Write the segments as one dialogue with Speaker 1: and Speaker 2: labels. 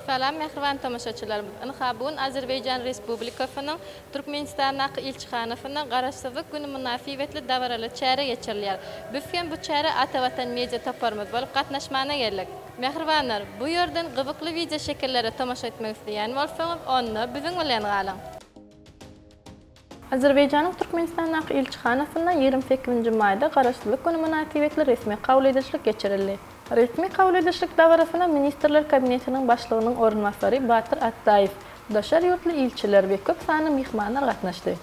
Speaker 1: Salam mähriban tomaşaçylarymyz! Ynha, bu gün Azerbaýjan Respublikasynyň Türkmenistandaky ilçihanasynda Garaşsyzlyk güni mynasybetli dabaraly çäre geçirilýär. Biz hem bu çärä Ata Watan media toparymyz bolup gatnaşmana geldik. Mähribanlar, bu ýerden gyzykly wideoşekillere tomaşa etmek isleýän bolsaňyz, onda biziň bilen galyň! Azerbaýjanyň Türkmenistandaky ilçihanasynda ýigrimi sekizinji maýda Garaşsyzlyk güni mynasybetli resmi kabul edişlik geçirildi. Resmi kabul edişlik dabarasyna Ministrler Kabinetiniň Başlygynyň orunbasary Batyr Atdaýew, daşary ýurtly ilçiler we köp sanly myhmanlar gatnaşdy.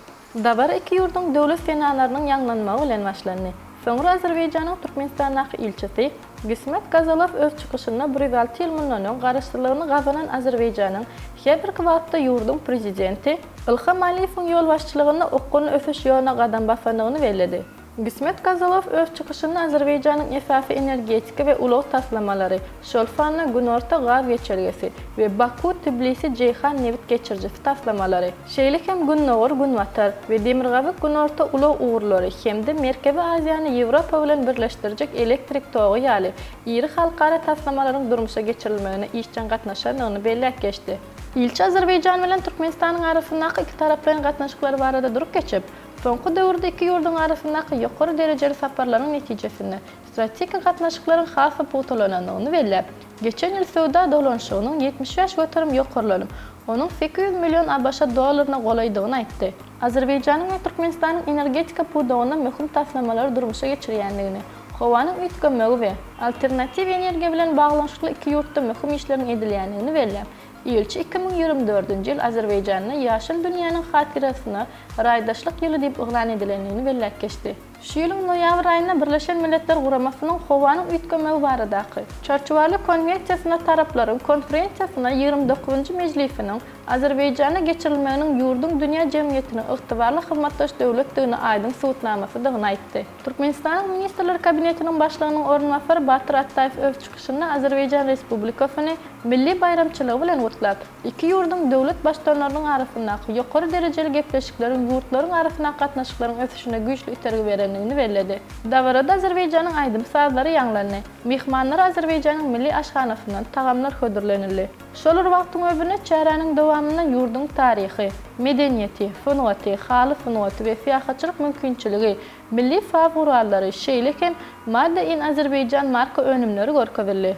Speaker 1: Dabara iki ýurduň Döwlet senalarynyň ýaňlanmagy bilen başlandy. Soňra Azerbaýjanyň Türkmenistandaky ilçisi, Gismet Gazalow öz çykyşynda Brýussel ýyl mundan öň garaşsyzlygyny gazanan Azerbaýjanyň, häzirki wagtda ýurduň Prezidenti Ilham Aliýewiň ýolbaşçylygynda okgunly ösüş ýoluna gadam basandygyny belledi. Gismet Gazalow öz çykyşynda Azerbaýjanyň esasy energetika we ulag taslamalary, şol sanda Günorta gaz geçelgesi we Baku-Tbilisi-Jeýhan nebit geçirijisi taslamalary, Şeýle hem Gündogar, Günbatar we Demirgazyk, Günorta ulag ugurlary hem-de Merkezi Aziýany Ýewropa bilen birleşdirjek elektrik togy ýaly iri halkara taslamalaryň durmuşa geçirilmegine işjeň gatnaşandygyny belläp geçdi. Ilçi Azerbaýjan bilen Türkmenistanyň arasyndaky ikitaraplaýyn gatnaşyklar barada durup geçip, soňky döwürde iki ýurduň arasyndaky ýokary derejeli saparlaryň netijesinde strategik gatnaşyklaryň has-da pugtalanandygyny belläp, Geçen ýyl söwda dolanyşygynyň ýetmiş bäş göterim ýokarlanym, onuň sekiz ýüz million ABŞ dollaryna golaýdygyny aýtdy. Azerbaýjanyň we Türkmenistanyň energetika pudagynda möhüm taslamalary durmuşa geçirýändigini, howanyň üýtgemegi we alternatiw energiýa bilen baglanyşykly iki ýurtda möhüm işleriň edilýändigini belläp, ilçi iki müň ýigrimi dördünji ýyl Azerbaýjanda Ýaşyl dünýäniň hatyrasyna Raýdaşlyk ýyly diýip yglan edilendigini belläp geçdi. Şu ýylyň noýabr aýynda Birleşen Milletler Guramasynyň Howanyň üýtgemegi baradaky Çarçuwaly konwensiýasyna taraplaryň konferensiýasyna ýigrimi dokuzynjy mejlisiniň Azerbaýjanda geçirilmeginiň ýurduň dünýä jemgyýetiniň ygtybarly hyzmatdaş döwletdigini aýdyň subutnamasydygyny aýtdy. Türkmenistanyň Ministrler Kabinetiniň Başlygynyň orunbasary Batyr Atdaýew öz çykyşynda Azerbaýjan Respublikasyny milli baýramçylygy bilen gutlap, Iki ýurduň döwlet baştutanlarynyň arasyndaky ýokary derejeli gepleşikleriň ýurtlaryň arasyndaky gatnaşyklaryň ösüşine güýçli itergi berendigini belledi. Dabarada Azerbaýjanyň aýdym-sazlary ýaňlandy, myhmanlara Azerbaýjanyň milli aşhanasyndan tagamlar hödürlenildi. Şol bir wagtyň özünde çäräniň dowamynda ýurduň taryhy, medeniýeti, sungaty, haly sungaty we syýahatçylyk mümkinçiligi, Milli saz gurallary, şeýle hem Made in Azerbaijan marka önümleri görkezildi.